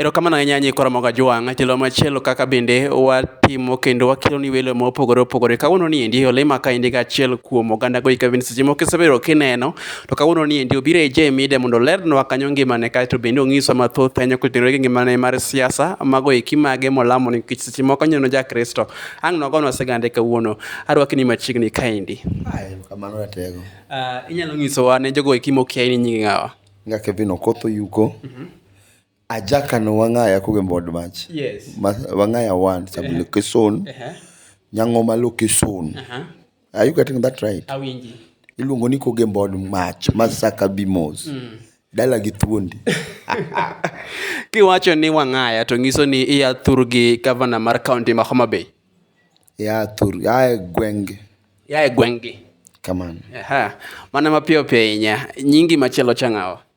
Erokamano ahinya nyi Koromoga Jwang', tielo machielo kaka bende watimo kendo wakelo ni welo ma opogore opogore. Kawuono ni endi olema ka endi achiel kuom oganda go ikabin seche moko isebedo kineno, to kawuono ni endi obiro e J Media mondo olernwa kanyo ngimane kae to bende ong'iswa mathoth ahinya kotenore gi ngimane mar siasa, mago eki mage molamo nikech seche moko nyono ja Kristo. Ang' nogonwa sigande kawuono, arwaki ni machiegni kaendi. Kamano ratego. Uh, inyalo ng'isowa ne jogo eki mokia ni nyingi ng'awa? Nga Kevin Okoth Oyuko. Mm -hmm. Ajakano Wangaya kogombo od mach. Yes. Wangaya one sub location. Uh -huh. Nyang'oma location. Uh -huh. Are you getting that right? Awinji. Iluongo ni kogembo od mach masaka bimos. Mm. Dala gi thuondi. Kiwacho ni Wangaya to nyiso ni iya thur gi governor mar county ma Homa Bay. Ya thur, ya gwenge. Ya gwenge. Kamano. Aha. Mana mapiyo piyo inya. Nyingi machielo changawa.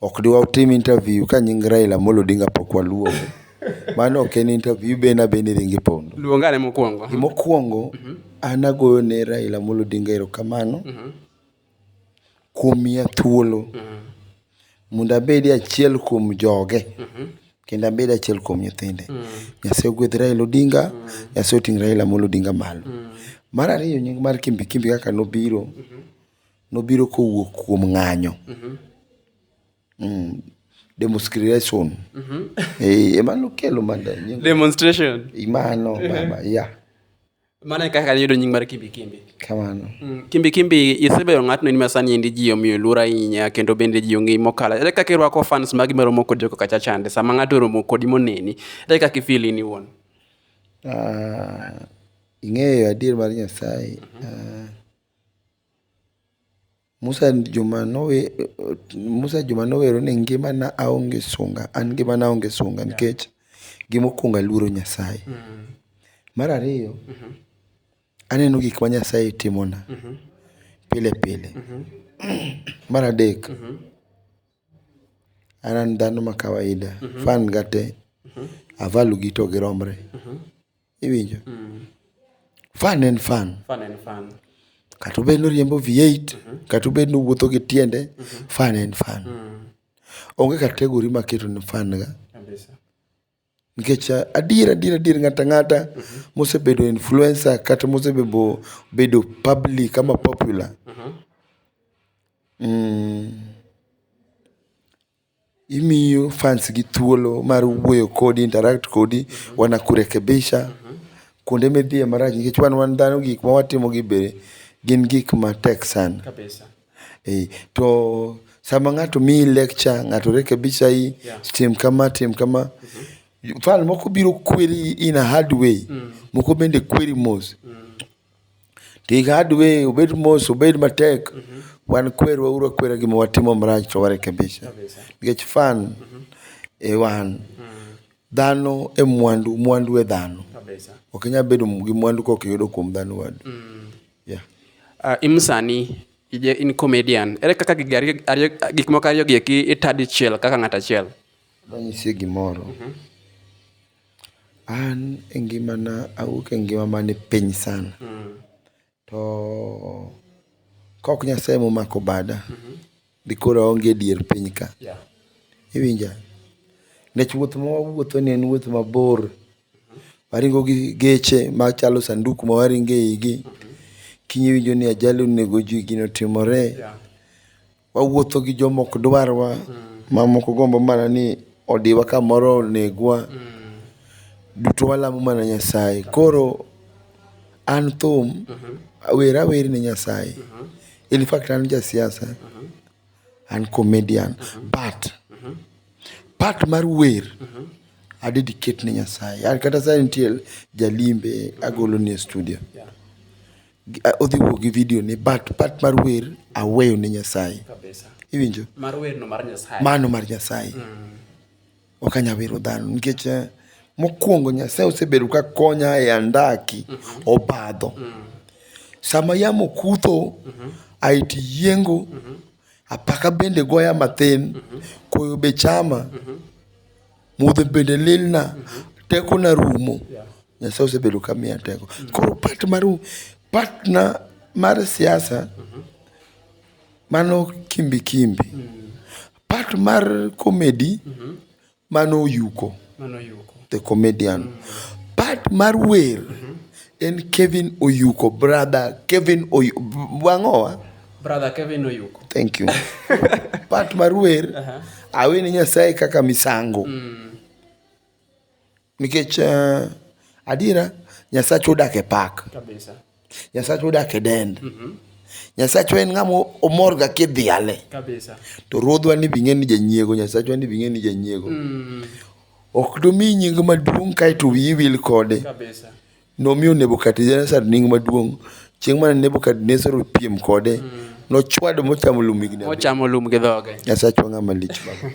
Ok de watim interview ka nying Raila Amolo Odinga pok waluongo. Mano ok en interview, iben abena iringo ipondo. Luonga ane mokwongo. Gima okwongo, an agoyo ne Raila Amolo Odinga erokamano kuom miya thuolo mondo abed e achiel kuom joge kendo abed achiel kuom nyithinde. Nyasaye ogwedh Raila Odinga, Nyasaye oting' Raila Amolo Odinga malo. Mar ariyo nying mar Kimbi Kimbi kaka nobiro, nobiro kowuok kuom ng'anyo. Demostration. Eh, ema nokelo mada nying. Demonstration. Mano baba, ya. Mano e kaka niyudo nying mar Kimbi Kimbi. Kamano. Mm, Kimbi Kimbi isebedo ng'atno in ma sani endi ji omiyo luor ahinya kendo bende ji ong'eyi mokalo. Ere kaka irwako fans magi ma romo kodi kaka cha chande sama ng'ato oromo kodi moneni? Ere kaka ifeel in iwuon? Ah, ing'eyo adier mar Nyasaye. Ah, Musa juma nowe Musa juma nowero ni ngimana aonge sunga an ngimana aonge sunga nikech gima okuongo aluoro Nyasaye. Mar ariyo aneno gik ma Nyasaye timona pile pile. Mar adek an an dhano ma kawaida fan ga te, avalu gi to giromre Iwinjo? Mm. Fan en fan. Fan en fan. Kata obed noriembo V8, mm -hmm. kata obed nowuotho gi tiende, mm -hmm. fan en fan. Mm. Onge kategori ma keto ni fan ga. Kabisa. Nikech eh, adier adier adier ng'ata ng'ata mm -hmm. mosebedo influencer kata mosebedo bedo public ama popular. Mm -hmm. mm. Imiyo fans gi thuolo mar wuoyo kodi, interact kodi, wanakurekebisha. Kuonde midhiye marach nikech wan wan dhano gik ma watimo gi be gin gik ma tek sana. Ee, to sama ng'ato miyi lecture, ng'ato rekebishayi, tim kama, tim kama. Fan moko biro kweri in a hard way, moko bende kweri mos. Ti hard way, obed mos, obed matek, wan kwerwa uru akwera gima watimo marach to warekebisha. Nikech fan e wan, dhano e mwandu, mwandu e dhano. Ok inyal bedo gi mwandu kok iyudo kuom dhano wadu. Yeah. Uh, in sani ije in comedian ere kaka gik ariyo- ariyo- gik moko ariyo gi eki ita dichiel kaka ng'at achiel Adwa nyisi gimoro. An e ngimana awuok e ngima man piny sana. To kaok Nyasaye ema omako bada, dikoro aonge e dier piny ka. Iwinja? Nikech wuoth ma wawuothoni en wuoth mabor. Waringo gi geche machalo sanduk ma waringo eigi. Kiny iwinjo ni ajali onego ji, gino otimore. Wawuotho gi joma ok dwarwa, ma moko gombo mana ni odiwa kamoro onegwa. Duto walamo mana Nyasaye. Koro an thum, wer awer ne Nyasaye. In fact an ja siasa, an comedian but part mar wer a dedicate ne Nyasaye. An kata sani nitie ja limbe agolo ne e studio. Odhi wuok gi video ni but part mar wer aweyo ne Nyasaye. Kabisa. Iwinjo? Mar wer no mar Nyasaye. Mano mar Nyasaye. Mm. Ok anya wero dhano nikech eh, mokwongo Nyasaye osebedo ka konya e andaki mm -hmm. obadho. Mm. Sama yamo kutho mm -hmm. aiti yiengo mm -hmm. apaka bende goya mathin mm -hmm. koyo be chama mm -hmm. Mudho bende lilna, tekona rumo. Nyasaye osebedo ka miya teko. Koro part mar part na mar siasa mano kimbi kimbi. Part mar comedy mano oyuko, the comedian. Part mar wer en Kevin Oyuko, brother Kevin Oyuko, wang'owa. Brother Kevin Oyuko. Thank you. Pat Marwer, uh -huh. awe ni Nyasaye kaka misango. Mm. Nikech uh, adiera Nyasaye odak e pak. Kabisa. Nyasaye odak e dend. Mm -hmm. Nyasacho en ng'ama omorga kidhiale. Kabisa. To ruodhwa ni bing'e ni janyiego, Nyasacho ni bing'e ni janyiego. Mm. Ok domi nying maduong' kae to wiyi wil kode. Kabisa. Nomiyo Nebukadnezar nying maduong'. Chieng' mane Nebukadnezar opiem kode, nochwado mochamo lum higni abiriyo. Ochamo lum gi dhoge. Nyasachwa ng'ama lich baba.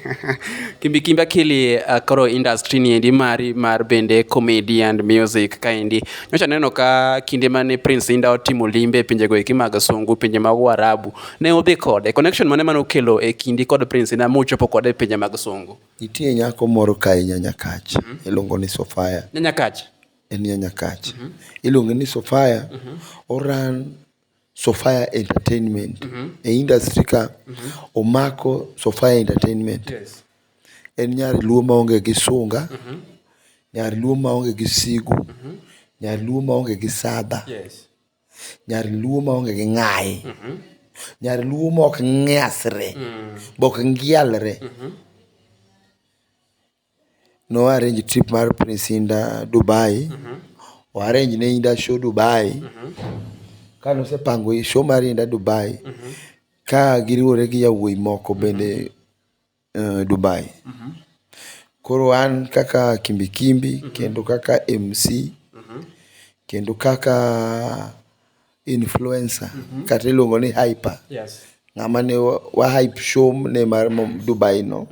Kimbi Kimbi Akili uh, koro industry ni endi mari mar bende comedy and music kaendi. Nyocha neno ka kinde mane Prince Inda otimo limbe e pinjego eki mag Sungu, pinje mag Warabu, ne udhi kode. Connection mane mane okelo e kindi kod Prince Inda muchopo kode e pinje mag Sungu? Nitie nyako moro kae Nyanyakach, iluongo ni Sofia. Nyanyakach. en ya Nyakach. Iluonge ni Sofia, o run Sofia Entertainment. E industry ka, omako Sofia Entertainment. En nyar luo ma onge gi sunga, nyar luo ma onge gi sigu, nyar luo ma onge gi sadha, nyar luo ma onge gi ng'ayi, nyar luo ma ok nyasre, be ok ngialre. no arrange trip mar Prince Indah Dubai, o arrange ne Indah show Dubai. Ka nosepango show mar Indah Dubai, ka giriwore gi yawuoyi moko bende Dubai. Koro an kaka Kimbi Kimbi kendo kaka MC, kendo kaka. influencer kata iluongo ni hyper Yes. ng'ama ne wa- wa hype show ne mar Mom- Dubai no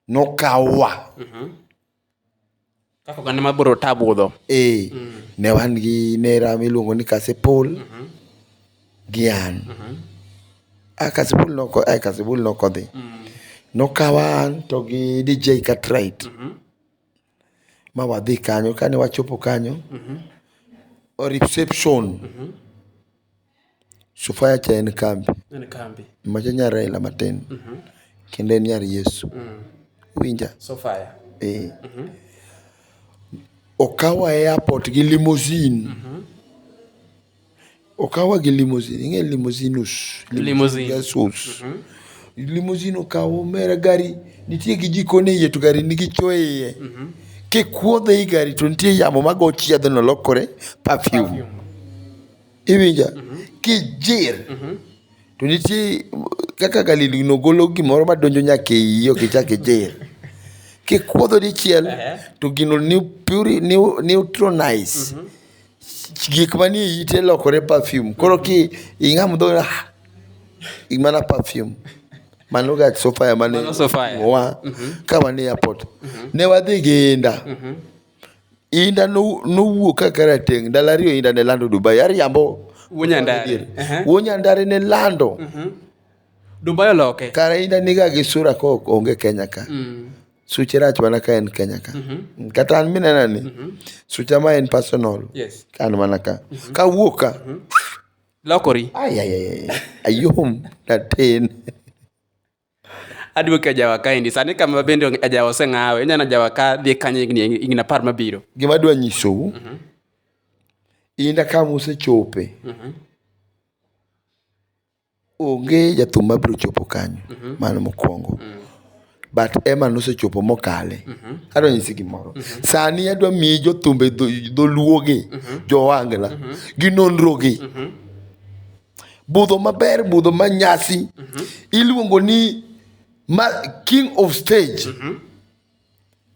nokawa Kaka oganda ma bro tabudho. eh ne wan gi nera miluongo ni Kasipul gi an a Kasipul noko a Kasipul nokodhi nokawa an to gi DJ Cartwright ma wadhi kanyo. Kane wachopo kanyo, o reception, Sofia cha en kambi. En kambi. Macha nyar Raila matin. Kendo en nyar Yesu. Iwinja? Sofia. Ee. Okawa e airport gi limousine. Okawa gi limousine. Ing'e limousinus? Limousine. Gasus. Mhm. Limousine okawo mera gari nitie gi jikon e iye to gari nigi cho e iye. Mhm. Kikuodhe i gari to nitie yamo mago chiedhe no lokore perfume. Iwinja? Mhm. Kijir. To nitie kaka galili no golo gimoro madonjo nyaka e iye ok ichak ijir. Kikuodho dichiel to gino neutronize. gik manie ite lokore perfume. Koro ki ing'a mudho ah, in mana perfume. Mano ga sofaya mane Mano sofaya. wa mhm. ka wan e airport. Mhm. Ne wadhi gi inda. Mhm. Inda nowuok ka karateng' ndalo ariyo inda ne lando Dubai. Ariambo. Wuonyandare. Wuonyandare ne lando. Dubai oloke. Kara inda niga gi sura ko onge Kenya ka. Mm. suche rach mana ka en kenya ka kata an minena ni sucha ma en personal Yes. ka an mana ka ka wuok ka Lokori. ay ay ay ay, ayom natin Aduoke ajawa kaendi. Sani kama bende onge- ajawa oseng'awe. Inyalo ajawa ka dhi kanye higni higni apar mabiro. gima adwa nyisou inda ka musechope Onge jathum ma biro chopo kanyo, mano mokwongo. But Emma nosechopo mokale. Adwa nyisi gimoro, sani adwa miyi jothumbe dholuo gi, jo Ohangla gi nonro gi. Budho maber, budho ma nyasi iluongo ni king of stage.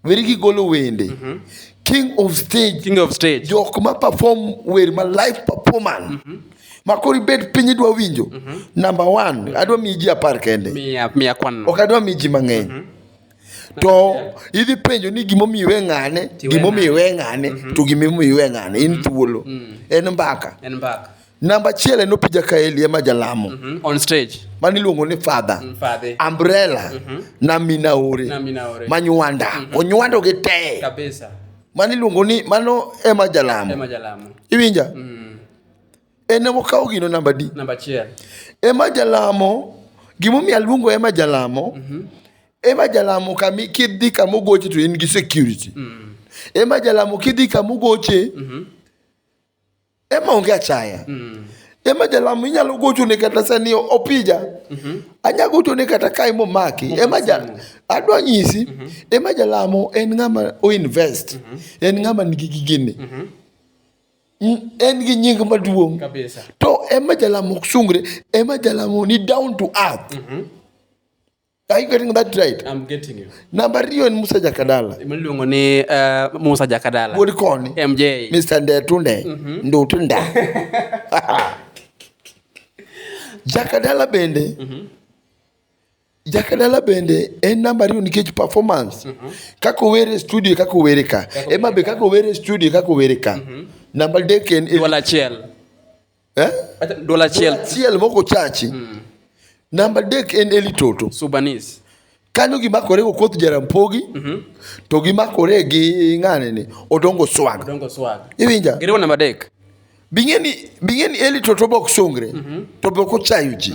weri gigolo wende mm -hmm. king of stage king of stage jok ma perform wer ma live performance mm -hmm. makori bed piny idwa winjo mm -hmm. number 1 mm -hmm. adwa mi ji apar kende mia mia kwan ok adwa mi ji mang'eny mm -hmm to idhi penjo ni gimomiyo iwe ng'ane gimomiyo iwe ng'ane mhm. to gimomiyo iwe ng'ane in mhm. thuolo mhm. en mbaka Namba achiel en Opija Kaeli ema jalamo. Mm -hmm. On stage. Mani luongo ni father. Mm, father. Umbrella. Mm -hmm. Na Minaore. Na Minaore. Manywanda. Mm -hmm. Onywando gi te. Kabisa. Mani luongo ni mano ema jalamo. Ema jalamo. Iwinja? Mm -hmm. En ema okawo gino namba di. Namba achiel. Ema jalamo. Gimomiyo aluongo ema jalamo. Mm -hmm. Ema jalamo kami kidhi kama ogoche to in gi security. Mm -hmm. Ema jalamo kidhi kama ogoche. Mm -hmm. Ema onge achaya. Mm. Ema jalamo inyalo gocho ne kata sani opija. Mm -hmm. Anya gocho ne kata kai momaki. Mm -hmm. Ema ja adwa nyisi. Mm -hmm. Ema jalamo en ng'ama o invest. Mm -hmm. En ng'ama nigi gigini. Mm -hmm en gi nying maduong' to ema jalamo ok sungre ema jalamo ni down to earth mm -hmm. Are you getting that right? I'm getting you. Namba riyo en Musa Jakadala. Miluongo ni uh, Musa Jakadala. Wuod koni. MJ. Mr. Ndetunde. Mm -hmm. Ndutunda. Jakadala bende. Mm -hmm. Jakadala bende en namba riyo nikech performance. Mm -hmm. Kako were studio kako were ka. Ema be kako were studio kako were ka. Mm -hmm. Namba dek en. Wala chiel. eh? Ata dola Dola achiel achiel moko chachi namba adek en eli toto subanis kanyo gimakore go koth jarampogi to gimakore gi ng'ane ni odongo swag dongo swag iwinja giriwo namba adek bing'eni bing'eni eli toto bok songre to bok ochayo ji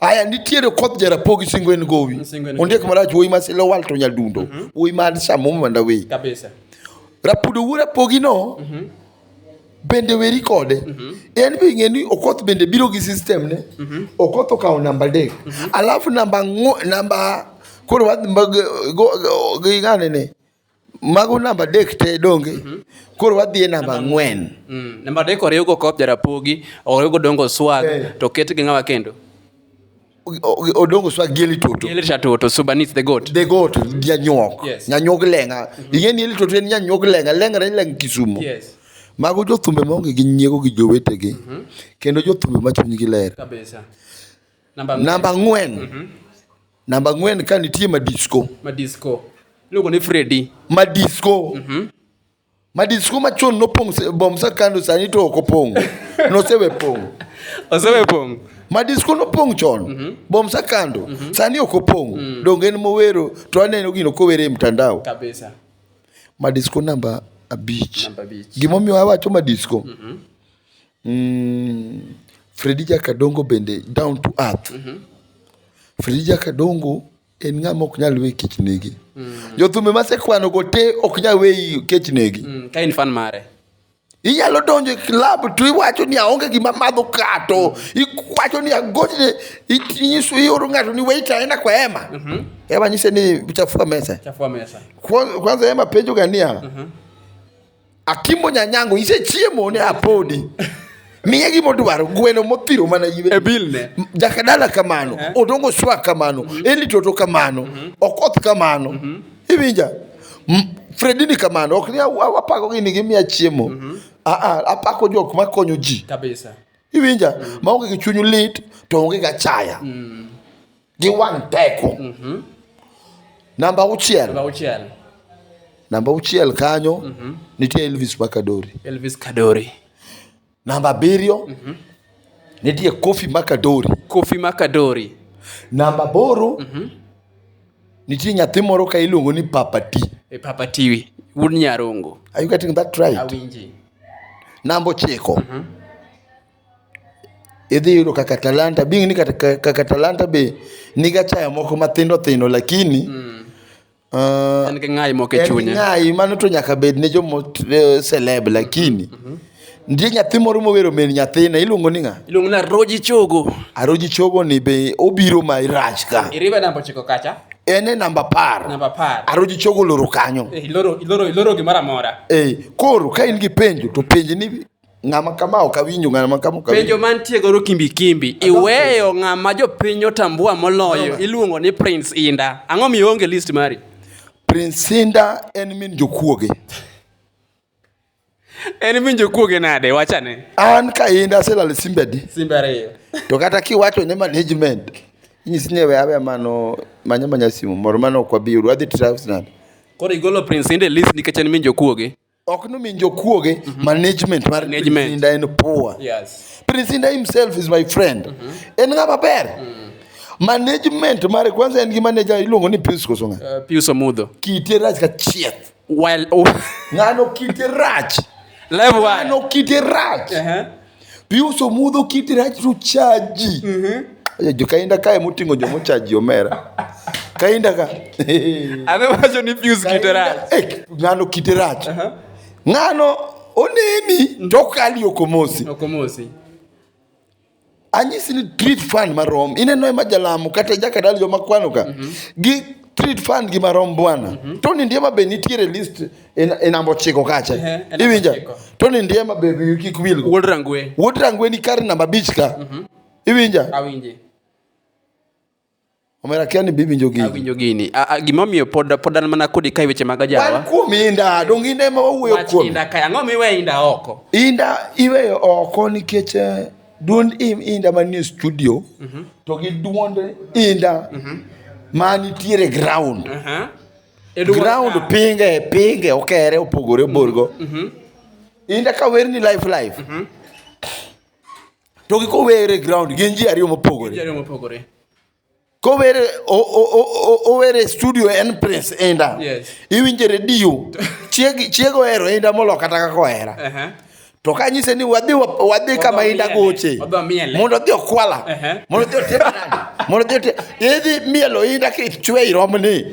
aya nitiere koth jarapogi singo en gowi Singo en ondiek marach wuoyi ma silo wal to nyadundo wuoyi ma samomo mandawei kabisa rapudo wuora pogino bende weri kode mm-hmm. en be ing'e ni okoth bende biro gi system ne mm-hmm. okoth okawo namba adek mm-hmm. alafu namba namba koro wadhi ng'ane ne mago namba adek te donge koro wadhi e namba ang'wen mm. namba adek oriwgo kop jarapogi oriwgo dongo swag eh. to ket gi ng'awa kendo odongo swa gieli toto gieli toto so beneath the goat the goat nyanyok yes. nyanyok lenga mm -hmm. ingeni gieli toto en nyanyok lenga lenga ni leng kisumo yes mago jothumbe maonge gi nyiego gi jowetegi mm -hmm. kendo jothumbe ma chunygi ler kabisa namba ng'wen mm -hmm. namba ng'wen ka nitie madisco madisco iluongo ni fredi madisco mm -hmm. Madisko machon nopong' se- bom sa kando sani to ok opong'. Nosewe pong'. Osewe pong'. Madisko nopong' chon. Bom sa kando. Sani ok opong'. Donge en mowero to aneno gino kowere e mtandao. Kabisa. Madisko namba abich. Namba abich. Gimomiyo awacho madisko. Mm, Fredi Jakadongo bende down to earth. Fredi Jakadongo en ng'ama ok nyal we kech negi mm. jothumbe masekwano go te ok nyal we kech negi mm, ka in fan mare inyalo donjo e klab to iwacho ni aonge gima madho kato iwacho ni agochne inyiso ioro ng'ato ni wait aenda kwa ema mm -hmm. ema nyise ni chafua mesa kwanza ema penjo gania mm -hmm. Akimbo nyanyango isechiemo ne apodi. Miye gima odwaro gweno mothiro mana iwe. E bill ne. Jakadala kamano, Eh. odongo swa kamano, Eli Toto kamano, Okoth kamano. Iwinja? M- Fredini kamano, ok ni aw- aw- apako gini gimiya chiemo. Ah ah, apako jok makonyo ji. Kabisa. Iwinja? Maonge gi chuny lit to onge ga chaya. gi wang' teko. Mm -hmm. Namba auchiel. Namba auchiel. Namba auchiel kanyo mm -hmm. nitie Elvis Makadori. Elvis Kadori. Namba abiriyo mm -hmm. nitie Kofi Makadori. Kofi Makadori. Namba aboro mm -hmm. nitie nyathi moro ka iluongo ni Papa T. E Papa Tiwi, wuod Nyarongo. Are you getting that right? Awinji. Namba ochiko. Mm -hmm. idhi yudo kaka talanta being ni kata ka- kaka talanta be niga chayo moko mathindo thindo lakini ah, En gi ng'ayi moko e en chunye. ng'ayi mano to nyaka bed ne jomo eh, celeb lakini nitie nyathi moro mowero min nyathine iluongo ni ng'a Iluongo na Roji Chogo. aroji chogo ni be obiro ma irach ka Iribe namba ochiko kacha. en e namba par Namba apar. aroji chogo loro kanyo Eh, Iloro, iloro, iloro gimoro amora. Eh, koro ka in gi penjo to penj ni Ng'ama kama ok awinjo, ng'ama kama ok awinjo. Penjo mantie godo kimbi kimbi, iweyo ng'ama jopiny otambua moloyo iluongo ni Prince Inda. Ang'o miyo onge list mari? Prince Inda en min jokuoge. En min jokuoge nade? Wachane. An ka Inda aselalo simbe adi? Simbe ariyo. To kata kiwacho ne management, inyisi ni we awe mano manya manya simu moro mano ok wabi yudo. Wadhi try nade? Koro igolo Prince Inda e list nikech en min jokuoge? ok nomi jokuoge mhm. management mar Prisinda en poor yes. Prisinda himself is my friend mm -hmm. en ng'ama ber mm. management mare kwanza en gi manager iluongo ni Pius Kosonga uh, Pius Omudho kite rach ka chieth while oh. ng'ano kite rach level one ng'ano kite rach uh -huh. piuso mudho kiti rach to chaji mm-hmm. jo kainda kae moting'o jo mochaji omera kainda ka adhi wacho ni pius kite rach eh, ng'ano kite rach uh-huh. ng'ano oneni to kali okomosi okomosi anyisi ni treat fund marom ineno ema jalamo kata jakadal joma kwano ka mm-hmm. gi treat fund gi marom bwana mm-hmm. to ni ndiema be nitiere list inambo chiko kacha iwinja to ni ndiema bebi kik wil wuod rangwe wuod rangwe ni kar namba bich ka mhm. iwinja awinje omera kia ni bibi njo gini awinjo gini gima omiyo pod pod an mana kodi kai weche mag ajawa wan kuom inda dong inda ema wawuoyo kuom inda kai ang'o miwe inda oko inda iweyo oko nikech eh, duond im inda manie studio mhm. to gi duond inda mhm. ma nitiere ground uh -huh. ground pinge pinge okere opogore oborgo mm-hmm. mm-hmm. inda ka wer ni life life mm-hmm. to gi kowere ground gin ji ariyo mopogore kowere owere studio en prince inda iwinje redio chiego ohero inda molo kata kaka ohera to ka nyise ni wadhi wadhi kama inda goche mondo dhi okwala mondo dhi otim mondo dhi otim idhi mielo inda ki chwe irom ni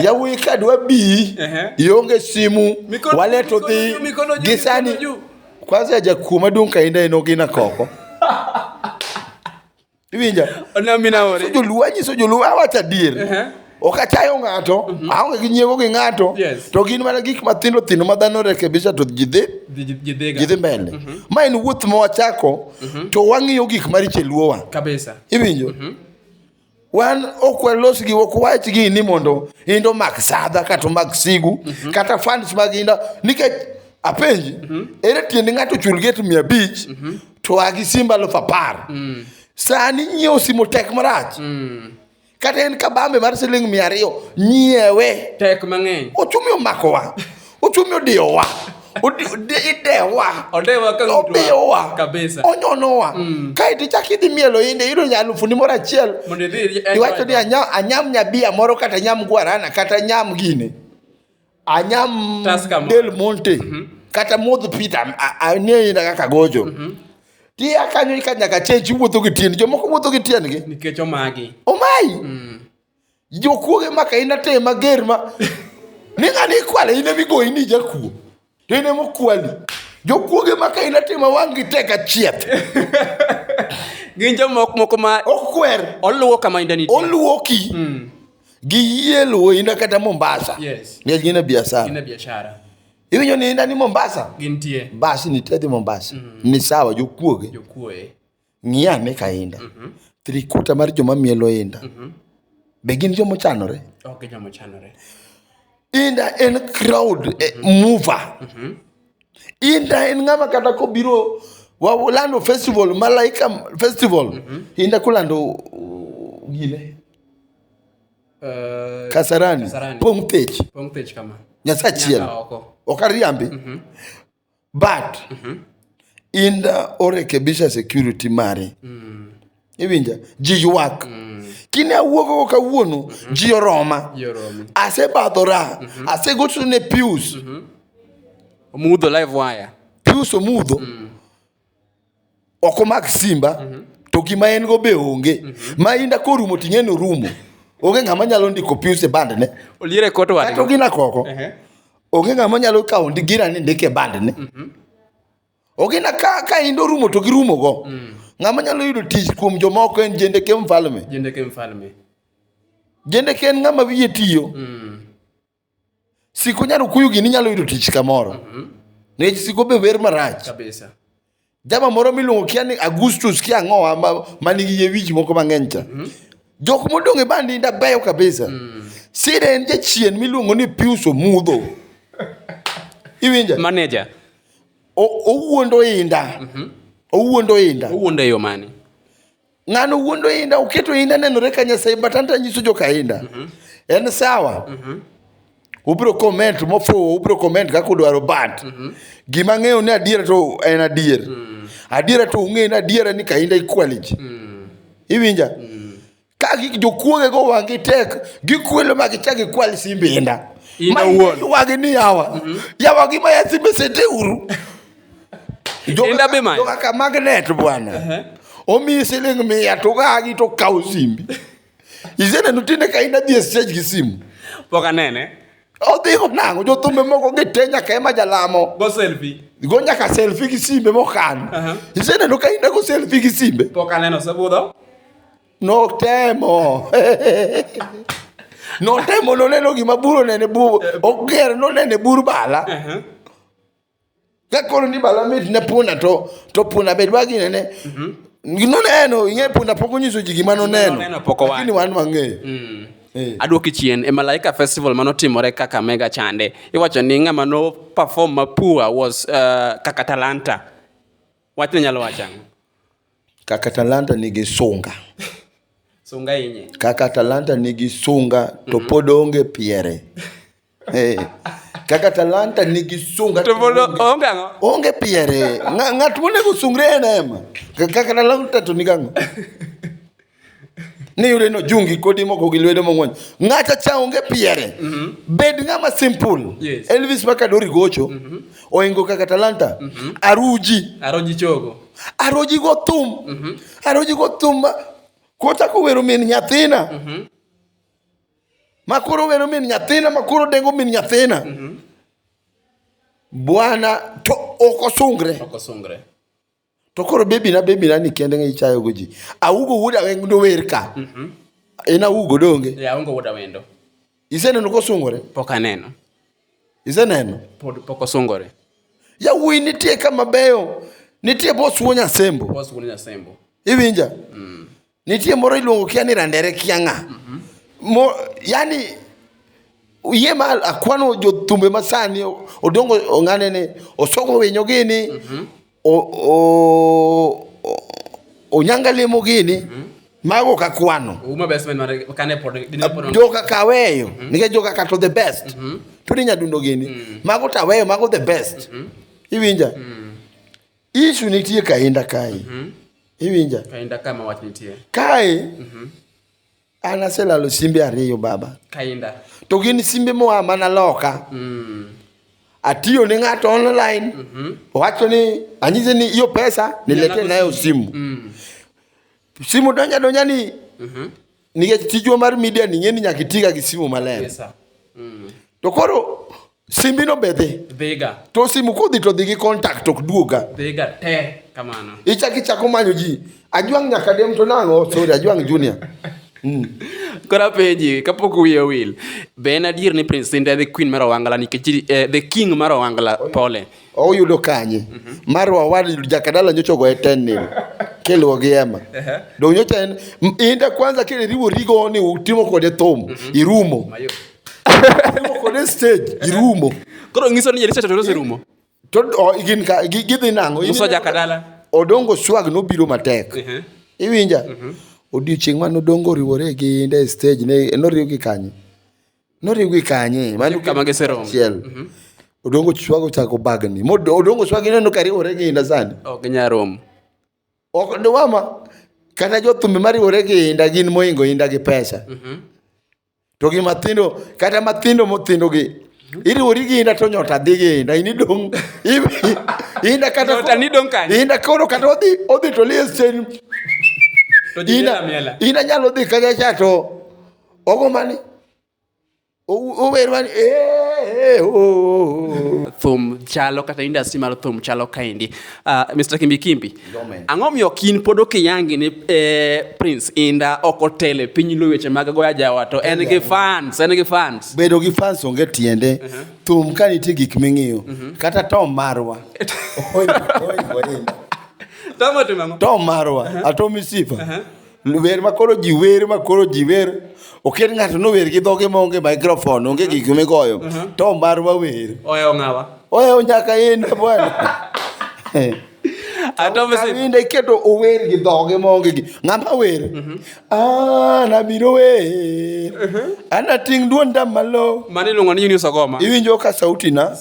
yawuyi ka dwa bi ionge simu waleto dhi gisani kwanza jakuo maduong' ka inda en ogina koko iwinja Ona mi naore. So joluo anyiso joluo awacho adier Ehe. ok achayo ng'ato aonge gi nyiego gi ng'ato Yes. to gin mana gik mathindo thindo ma dhano rekebisha to ji dhi Ji- ji- ji dhiga. ji dhi mbele ma en wuoth ma wachako to wang'iyo gik maricho e luowa Kabisa. iwinjo wan ok walos gi ok wach gi ni mondo indo mak sadha kata omak sigu kata fans mag inda nikech apenji mm -hmm. ere tiende ng'ato chul get mia abich mm -hmm. to agi simb alufu apar mm. sani nyiewo simo tek marach mm. kata en kabambe mar siling mia ariyo nyiewe tek mang'eny ochumi omakowa ochumi odiyowa idewa obiyowa onyonowa mm. kaeto ichak idhi mielo inde iyudo nya alufu ni moro achiel iwacho ni anyam nyabia moro kata nyam guarana kata nyam gine anyam Tusker Mall. del monte kata modh pita ang'eyi na kaka gocho ti akanyo ka nyaka chenji wuotho gi tiend jomoko wuotho gi tiendgi nikech omagi omayi jokuoge maka in ateye mager ma ni ng'ani ikwale in emigoyi ni jakuo to in emokwali jokuoge maka in ateye ma wang'gi tek achieth gin jomoko moko ma okwer oluwo kama indani oluoki giyie luwo ina kata mombasa yes. nikech gin e biashara iwinjo ni ina ni mombasa gintie bas nitie dhi mombasa mm -hmm. ni sawa jokuoge jokuoge ng'ia ane ka inda mm -hmm. trikuta mar joma mielo inda mm -hmm. be gin joma ochanore okay, joma ochanore inda en crowd mm -hmm. eh, mover mm -hmm. inda en ng'ama kata kobiro walando festival malaika festival mm -hmm. inda kulando uh, gine Eh, kasarani, kasarani. pong thich pong thich kama nyasaye achiel ok ariambi mm -hmm. but mm -hmm. in the orekebisha security mari mm. iwinja ji ywak mm. kine awuogogo kawuono mm -hmm. ji oroma asebadhora mm -hmm. asegochone pius mm -hmm. omudho live wire pius omudho mm. ok omak simba mm -hmm. to gima en go be onge mm -hmm. ma inda korumo ting'e ni orumo onge ng'ama nyalo ndiko pius e band ne oliere kot wadi kata ogina koko uh -huh. onge ng'ama nyalo kawo gira ni ndike band ne mm -hmm. ogina ka, ka inda orumo to girumo go mm -hmm. ng'ama nyalo yudo tich kuom jomoko en jende ke mfalme jende ke mfalme jende ke en ng'ama wiye tiyo mm -hmm. Siko nyalo kuyo gini nyalo yudo tich kamoro. Mhm. Nikech siko be wer marach. Kabisa. Jama moro miluongo kia ni Augustus kia ang'owa ma, ma nigi yie wich moko mang'eny cha. Mhm. Jok modong' e bandi nda beyo kabisa. Mm. Sida en jachien miluongo ni Pius Omudho. Iwinja? Manager. O- Owuondo inda. Mhm. Owuondo inda. Owuondo e yo mane? ng'ano wuondo inda oketo inda nenore ka nyasaye but anta nyiso joka inda mm -hmm. en sawa mm -hmm. ubiro comment mofuwo ubiro comment kaka udwaro but mm -hmm. gima ng'eyo ni adiera to en adier mm -hmm. adiera to ung'eyo ni adiera ni ka inda equality mm -hmm. iwinja mm -hmm. ka jokuoge go wang'i tek gikwelo ma gichak gikwal simbe inda inda wuon wagi ni yawa mm -hmm. yawa gima ya simbe sete uru Joka- Enda be manyo. joka ka magnet bwana omiyi siling mia to gagi to kawo simbi iseneno tinde ka in adhi e stage gi simu Pok anene. odhi onang'o jothumbe moko gite nyaka ema jalamo Go selfie. go nyaka selfi gi simbe mokan Aha. iseneno ka in ago selfi gi simbe Pok aneno osebudho. notemo notemo noneno gima buru nene bu oger nonene bur bala Aha. Kakoro ni bala mit ne punda to to punda bed wagi ne ne. Mhm. Gino neno ing'e punda pok onyiso ji gima noneno. Noneno pok owacho. Lakini wan wang'eyo. Mm. Eh. Adwoki chien e Malaika Festival mano timore kaka mega chande. Iwacho ni ng'ama no perform mapua was uh, kaka talanta. Wachne nyalo wacha. Kaka talanta nigi sunga. sunga inye. Kaka talanta nigi sunga to mm -hmm. pod onge piere. Hey. Kaka talanta nigi sunga to mondo onge ang'o? Onge piere. Ng'at monego sungre en ema. Kaka talanta to nigi ang'o? ni yude no jungi kodi moko gi lwedo mong'wony ng'ata cha onge piere mm -hmm. bed ng'ama simple yes. elvis maka dori gocho mm -hmm. oingo kaka talanta mm -hmm. aruji aroji chogo aroji go thum mm -hmm. aroji go thum kota ko wero min nyathina mm -hmm. ma koro wero min nyathina ma koro dengo min nyathina mm-hmm. bwana to ok osungre ok osungre to koro bebi na bebi na ni kende ngi chayo goji awugo wuda weng do wer ka mhm en awugo donge ya awugo wuda wendo ise neno ko sungore pok aneno ise neno pod pok osungore ya wuyi nitie kama beyo nitie bosuo nyasembo bosuo nyasembo iwinja mm. Nitie moro iluongo kia ni randere kia ng'a. Mm -hmm. Yani yie ma akwano jothumbe masani odongo ong'ane ni osoko winyo gini mm -hmm. o, o, o, onyanga lemo gini mm -hmm mago ka kwano joka kaweyo mhm. nikech joka ka to the best mhm. tudi nyadundo gini mhm. mago taweyo mago the best iwinja Isu nitie kainda kae. Mm -hmm. Iwinja? Kainda kae ma wach nitie. Kae. Mm -hmm. An aselalo simbe ariyo baba. Kainda. To gin simbe moa mana loka. Mm. Atiyo ne ng'ato online. Mm -hmm. Wacho ni anyize ni hiyo pesa nilete nayo simu. Mm. Simu donja donja ni. Mm -hmm. nikech tijwa mar media ni ng'eni nyaka itiga gi simu maler Yes, sir. Mm. to koro simbino be dhi Dhiga. to simu kodhi to dhi gi contact ok duoga Dhiga te kamano. ichak ichako manyo ji ajwang' nyaka dem to nang'o sorry ajwang' junior Koro apenji kapok wiye owil. Be en adier ni Prince Indah e the queen mar Owangla nikech eh, the king mar Owangla pole. oyudo kanye mhm. mar wawad jakadala nyocha ogoye ten nil kiluwo gi ema dong nyocha en inda kwanza kile riwo rigo ni utimo kode thum mhm. irumo utimo kode stage irumo koro ngiso ni jerisa todose rumo to gin ka gidhi nango uso jakadala odongo swag nobiro matek iwinja mhm. odiochieng' mane odongo oriwore gi inda e stage ne noriwo gi kanye noriwgi kanye mano kama giseromo achiel mhm. odongo chwago chako bagni odongo chwago ineno ka riwore gi inda sani ok ginyal romo ok ndiwama kata jothumbe mariwore gi inda gin moingo inda gi pesa mhm. to gi mathindo kata mathindo mothindo gi mhm. iriwori gi inda to nyota dhi gi inda ini dong inda kata nyota ni dong kanye inda koro kata odhi odhi to lies chen inda inda nyalo dhi kanya cha to ogombani uwerwani eh, eh, oh, oh, oh. thum chalo kata industry mar thum chalo kaendi uh, ah, mr kimbikimbi ang'o miyo kin pod okiyangi ni eh, prince inda ok otele piny lo weche mag goya jawa to en gi fans en gi fans bedo gi fans onge tiende uh -huh. thum ka nitie gik ming'iyo uh mhm. -huh. kata tom marwa tom marwa uh -huh. atomisifa uh -huh. Wer ma koro ji wer ma koro ji wer oket ng'ato nower gi dhoge maonge microphone onge gik migoyo to mar wawer Oya ong'awa. oya nyaka in bwana Ato mse. Kawinde iketo ower gi dhoge maonge gi ng'ama wer an abiro wer anating' duonda malo Mani iluongo ni Eunice Ogoma. iwinjo ka sautina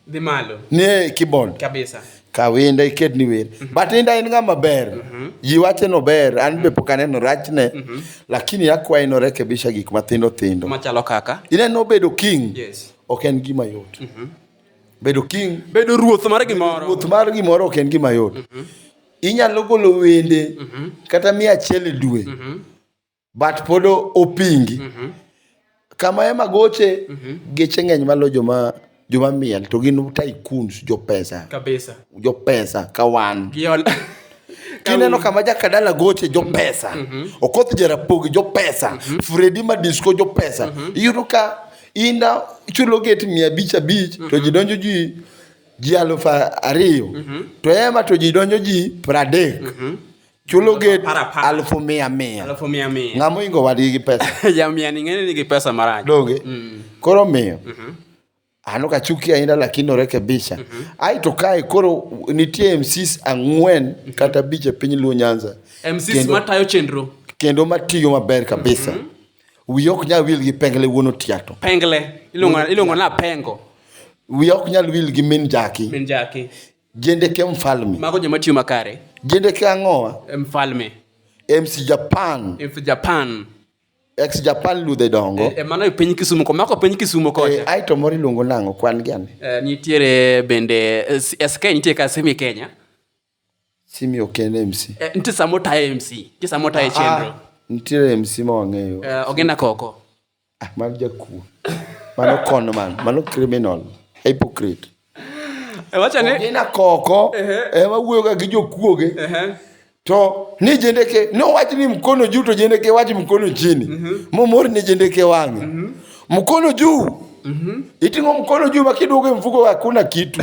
dhi malo nie keyboard kabisa kawinda iket ni wer mm -hmm. but inda en ng'ama ber mm -hmm. ji wache no ber an be pok aneno rachne mm -hmm. lakini akwaye norekebisha gik mathindo thindo machalo kaka ineno bedo king yes. ok en gima yot mm -hmm. bedo king bedo ruoth mar gimoro ruoth mar gimoro ok en gima yot mm -hmm. inyalo golo wende mm -hmm. kata mia achiel e dwe mm -hmm. but pod o- opingi kama ema goche geche ng'eny malo joma joma miel to gin tycoons jopesa kabisa jopesa ka wan giol kineno kama jakadala goche jopesa okoth jarapogi jopesa fredi madisco jopesa iyudo ka inda chulo get mia abich abich to ji donjo ji ji alufu ariyo to ema to ji donjo ji pradek chulo gate Para, para. alufu mia mia Alafu mia mia. ng'ama oingo wadgi gi pesa Ya mia ni ng'eni nigi pesa marach. donge Mm. koro miyo ano kachuki ahinya lakini orekebisha ai to kae koro nitie mcs ang'wen kata abich e piny luo nyanza MCs Kendo- matayo chenro. kendo matiyo maber kabisa wiya ok nyal wil gi pengle wuon otiato Pengle. Iluongo iluongo na pengo. wiya ok nyal wil gi min jaki Min jaki. Jendeke mfalme. Mago joma tiyo makare. Jendeke ang'owa. E mfalme. MC Japan. MC Japan. Ex Japan ludhe dongo. E, e mano e piny Kisumu, komako piny Kisumu kocha. E, aito moro iluongo nango kwan gi ane. E, nitiere bende SK nitiere ka Simi Kenya. Simi ok en MC. E, nitiere samo tayo MC. Nitiere samo tayo ah, ah. chenro. Nitiere MC ma wang'eyo. E, ogena koko. Ah, mano jakuo. Mano con man. Mano criminal. Hypocrite. E wacha ni Ogina koko Ehe. ema wuoyoga gi jokuoge Ehe. to ni jendeke nowach ni mkono juu to jendeke wach mkono chini momor ni jendeke wang'e mkono juu iting'o mkono juu makiduogo e mfuko hakuna kitu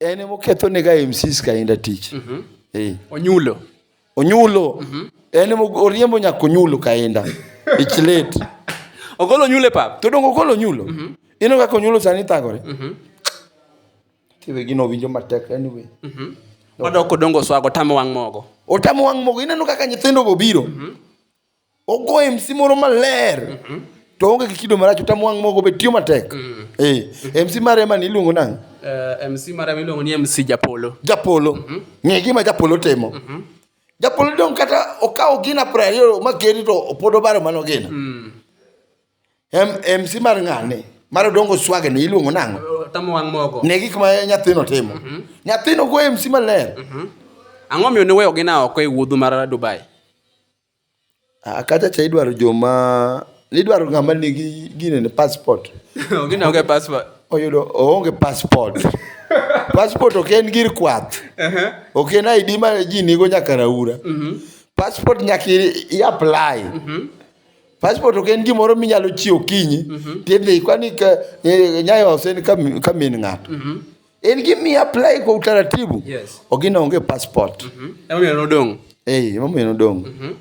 en ema oketho ne ga MCs ka inda tich mm -hmm. eh. onyulo onyulo mm -hmm. en ema oriembo nyako onyulo ka inda ich late ogolo nyule pap to dongo ogolo nyulo mm -hmm. ino kaka onyulo sani thagore mm -hmm. tiwe gino winjo matek anyway mm -hmm. odoko dongo swago tamo wang mogo otamo wang mogo ineno kaka nyithindo go biro mm -hmm. Ogo MC moro maler. Mm -hmm. To onge gi kido marach utam wang' mogo be tiyo matek. Mm. Eh, MC mare ema ni iluongo nang'? Uh, eh, MC mare ema iluongo ni MC Japolo. Japolo. Mm -hmm. Ng'e gima Japolo timo. Mm -hmm. Japolo dong kata okawo gina prario ma geri to opodo baro mano gina. Mm. Em, MC mar ng'ane? Mar dongo swage ni iluongo nang'o? Eh, Tamo wang' mogo. Ne gik ma nyathino timo. Mm -hmm. Nyathino go MC maler. Mm -hmm. Ang'o miyo ne weyo gina oko e wuodhu mar Dubai? Ah, kacha cha idwaro joma idwaro ng'ama nigi gine ne passport. Gini onge passport. Oyudo oonge passport. passport ok en gir kwath. Ok en ID ma ji nigo nyaka raura. Passport nyaka i- i apply. Passport ok en gimoro minyalo chiwo kinyi. Tidhi kwani ka eh, nyayo ose ni ka min- ka min ng'ato. En gi mi apply kwa utaratibu. Yes. Ogina onge passport. Mhm. Mm Ema meno dong. Eh, ema meno dong. Mhm. Mm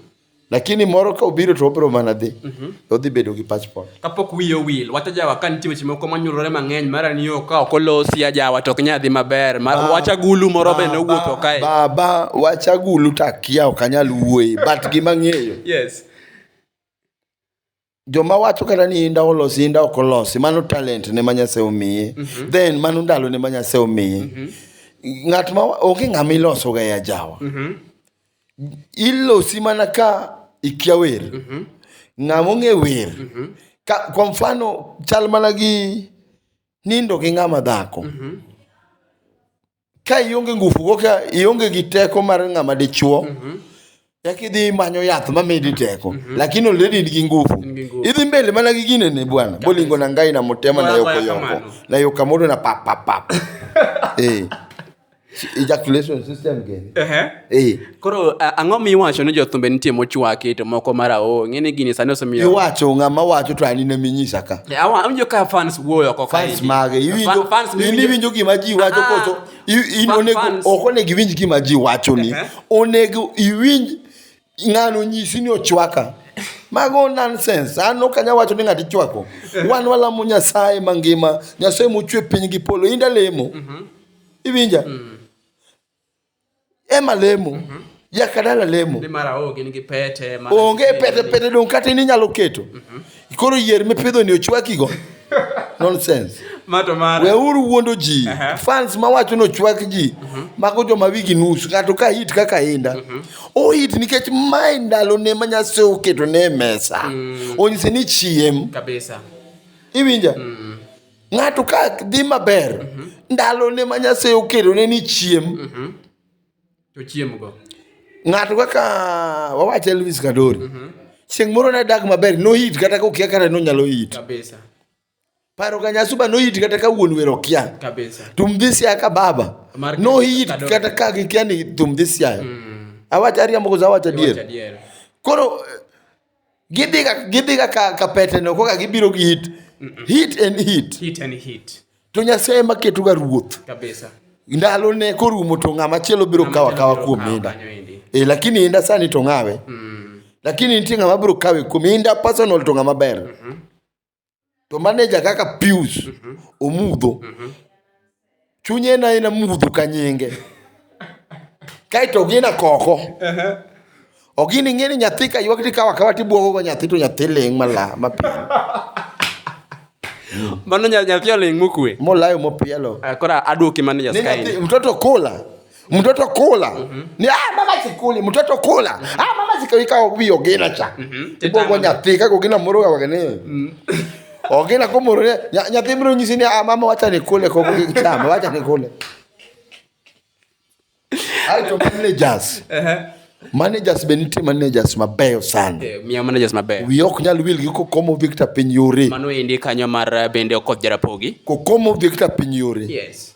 Lakini moro ka obiro to obiro mana dhi. Mhm. Mm Odhi bedo gi passport. Kapok wiye wil, wacha jawa kan tiwe chimo kwa manyurore mang'eny mara ni yo ka okolosi ajawa to knya dhi maber. Mar, ba, wacha gulu moro be no wuotho kae. Baba, wacha gulu takia okanyal wuoye, but gima ng'eyo. Yes. joma wacho kata ni inda olosi inda ok olosi mano talent ne ma nyasaye omiye mm -hmm. then mano ndalo ne ma nyasaye omiye mm -hmm. ng'at ma onge ng'ama iloso ga ya jawa mm -hmm. ilosi mana ka ikia wer mm -hmm. ng'ama ong'e wer mm -hmm. ka, kwa mfano chal mana gi nindo gi ng'ama dhako mm -hmm. ka ionge ngufu go ka ionge gi teko mar ng'ama dichuo eka idhi imanyo yath mamedi teko lakini already in gi ngufu In gi nguvu. idhi mbele mana gi gine ne bwana bolingo na ngai na mutema na Bwana yoko bwana yoko kamano. na yoko kamoro na pap pap pap eh ejaculation system gani Ehe. eh Koro a- ang'o miwacho ni jothumbe nitie mochwaki to moko marawo ng'e ni gini sani osemiyo iwacho ng'ama wacho to an ine minyisa ka Eh, awa- awinjo ka fans wuoyo oko ka fans eki. mage iwinjo Fan- fans in miwinjo- iwinjo gima ji wacho Ah, koso i- in fan- onego fans. ok onego iwinj gima ji wacho ni Ehe. onego iwinj ng'ano nyisi ni ochwaka mago nonsense an ok anyal wacho ni ng'ato ichwako wan walamo nyasaye mangima nyasaye mochwe piny gi polo inda lemo iwinja Ema lemo. Mm -hmm. Jakadala lemo. Ni mara o gin gi pete. Mara Onge pete pete dong kata in inyalo keto. Mm -hmm. Koro yier mipidho ni ochwaki go. Nonsense. Mato mara. Weuru wuondo ji. Uh -huh. Fans ma wacho no chwak ji. Mm -hmm. Mago joma wigi nus. Ng'ato ka hit kaka inda. Mm -hmm. O hit nikech mae ndalo ne ma nyase oketo ne mesa. Mm -hmm. Onyise ni chiem. Kabisa. Iwinja? Mm -hmm. Ng'ato ka dhi maber, mhm. ndalone ma Nyasaye okelone ni chiem. Mhm. To chiemgo. Ng'ato kaka wawacho Elvis Kadori. Mhm. Chieng' moro ne dak maber, noyit kata ka okia kata nonyalo yit. Kabisa. Paro ka nyasuba noyit kata ka wuon wero okia. Kabisa. Tum this year ka baba. Noyit kata ka gikia ni tum this year. Mm. Awacho ariambo koso awacho adier. Koro Gidhi ga gidhi ga ka, ka peteno koka gibiro gi hit. Hit en hit. Hit and hit. To Nyasaye ema ketoga ruoth. Kabisa. Ndalo ne korumo to ng'ama chielo biro Ng'ama kawa chielo kawa biro kuom kawo inda. kanyo endi. E, lakini inda sani to ng'awe. Lakini nitie ng'ama biro kawe kuom inda personal to ng'ama ber. to maneja kaka Pius mhm. omudho mhm. chunye en aena mudho ka nyinge kaeto ogina koko ogini ing'e ni nyathi ka ywak tikawa kawa tibwogogo nyathi to nyathi ling' mala mapiny mano nyathi oling' mokwe molayo mopielo eh, kora adwoki manaja mtoto kula mtoto kula mm -hmm. ni ah mama sikuli mtoto kula mm -hmm. ah mama sikawika obi ogena cha mm -hmm. ibo gonya thika gogina muruga wagene mm -hmm. ogena ko murure nyathi mro nyisi ni ah mama wacha nikule ko chama wacha nikule ai to managers uh -huh. managers be nitie managers mabeyo sana eh, miya managers mabeyo wi ok nyal wil gi kokomo victor piny yore mano endi kanyo mar eh, bende okoth jarapogi kokomo victor piny yore yes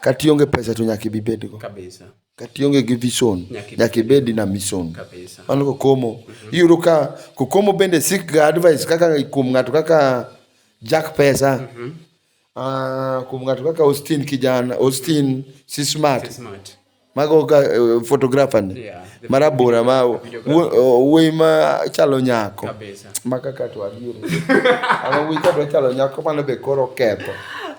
Kata ionge pesa to nyaka ibi ibed go. Kata ionge gi vision nyaka ibed na mission. Mano kokomo. Iyudo ka kokomo bende seek ga advice kaka kuom ng'ato kaka Jack Pesa. Mhm. Ah, kuom ng'ato kaka Austin kijana, Austin Sismart. Mago ka eh, photographer ni. Yeah, the Marabora ma photographer. wuo- oh, wuoyi ma chalo nyako. Kabisa. Ma kaka to adier. Ama wuoyi ka dwa chalo nyako mano be koro ketho.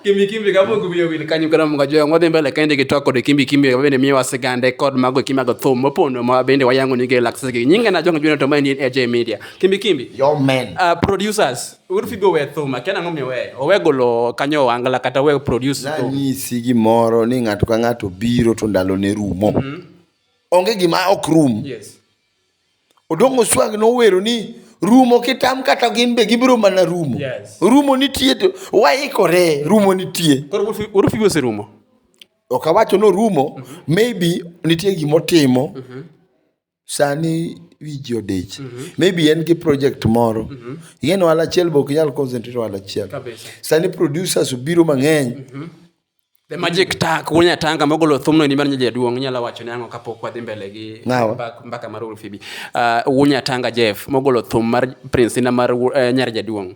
Kimbi kimbi kama gubiyo wili kanyo kana mga joya ngode mbele kende ki toko de kimbi kimbi kama bende miwa sigande kod mago kima go thum mopondo ma bende wayango nige laksege nyinga na jonga juna to mani AJ Media kimbi kimbi Your man. uh, producers Wuod Fibi owe thum, akia nang'o miyo oweyo. Owe golo kanyo wangla kata owe produce thum. Nanyisi gimoro ni ng'ato ka ng'ato biro to ndalo ne rumo. Onge gima ok rum. Yes. Odong' Oswag nowero ni rumo kitam kata gin be gibiro mana rumo. Yes. Rumo nitie to waikore rumo nitie. Koro Wuod Fi- Wuod Fibi oserumo. Ok awacho norumo, maybe nitie gimotimo sani wiji odich mm -hmm. maybe en gi project moro mm -hmm. ing'e ni wala achiel be ok inyal concentrate wala achiel sani producers obiro mang'eny mm -hmm. The magic tak wunya atanga mogolo thumno ni mar nyaja duong nyala wacho ne ango kapok wadhi mbele gi mbaka mar Ulfibi. Uh, wunya atanga Jeff mogolo thum mar Prince na mar uh, nyar jaduong.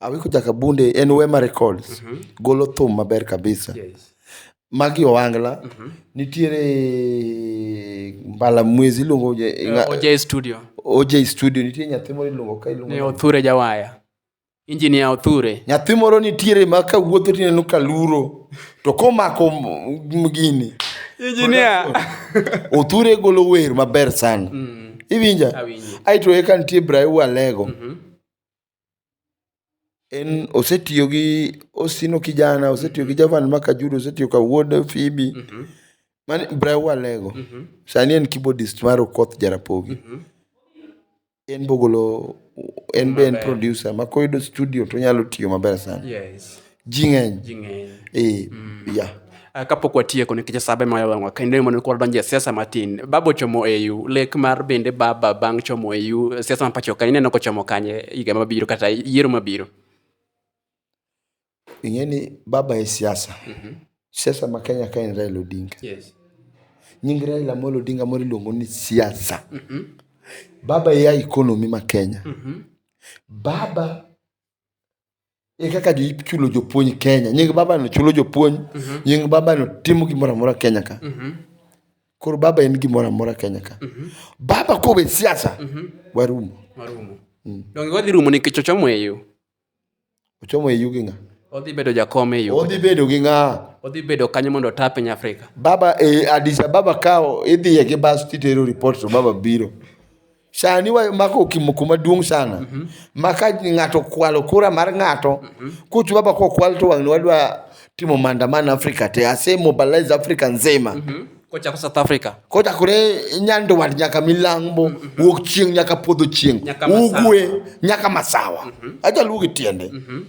Awiko Jakabunde en Wema Records. Golo thum maber kabisa. Magi Owangla. Nitiere Mbala Mwezi iluongo oje- nga- OJ Studio. OJ Studio. Nitie nyathi moro iluongo ka iluongo. Ni Othure Jawaya. Engineer Othure. Nyathi moro nitiere ma ka wuotho tineno ka luro. To komako m- m- gini. Engineer. Othure golo wer maber sana. Iwinja? Awinji. Aito eka nitie Brayo Alego. en osetiyo gi osino kijana osetiyo gi javan makajuru osetiyo ka wuod fibi mani bra walego sani en keyboardist mar okoth jarapogi en bogolo en be en producer ma koyudo studio tonyalo tiyo maber sana yes ji ng'eny ji ng'eny eh, yeah. Ah, kapok watieko nikech sabe mayo wang'wa kendo mondo koro donje siasa matin baba ochomo au lek mar bende baba bang' chomo au siasa ma pacho ka ineno kochomo kanye higa mabiro kata yiero mabiro ing'e ni baba e siasa siasa ma kenya ka en raila odinga yes nying raila amolo odinga moro iluongo ni siasa baba e ya economy ma kenya baba e kaka jo ichulo jopuonj Kenya. Nying baba no chulo jopuonj, mhm. nying baba no timo gimoro amora Kenya ka. Mhm. Koro baba en gimoro amora Kenya ka. Mhm. Baba kowe siasa, warumo. Warumo. Mm. Donge wadhi rumo nikech ochomo e yo. Ochomo e yo gi ng'a? Odhi bedo jakom e yo. Odhi bedo gi ng'a? Odhi bedo kanyo mondo ota piny Afrika. Baba e Addis Ababa ka idhiye gi bas titero report to baba biro. Sani wamako okimoko maduong' sana mm -hmm. ma ka ng'ato kwalo kura mar ng'ato mm -hmm. kuchu baba kwa kwalo to wang'ni wadwa timo maandamano Afrika te ase mobilize Afrika nzima mm -hmm. Kochako South Africa. Kochakore nyandwat nyaka milambo, mm -hmm. wuok chieng' nyaka podho chieng', ugwe nyaka masawa. Mm -hmm. Ajaluo gi tiende. Mm -hmm.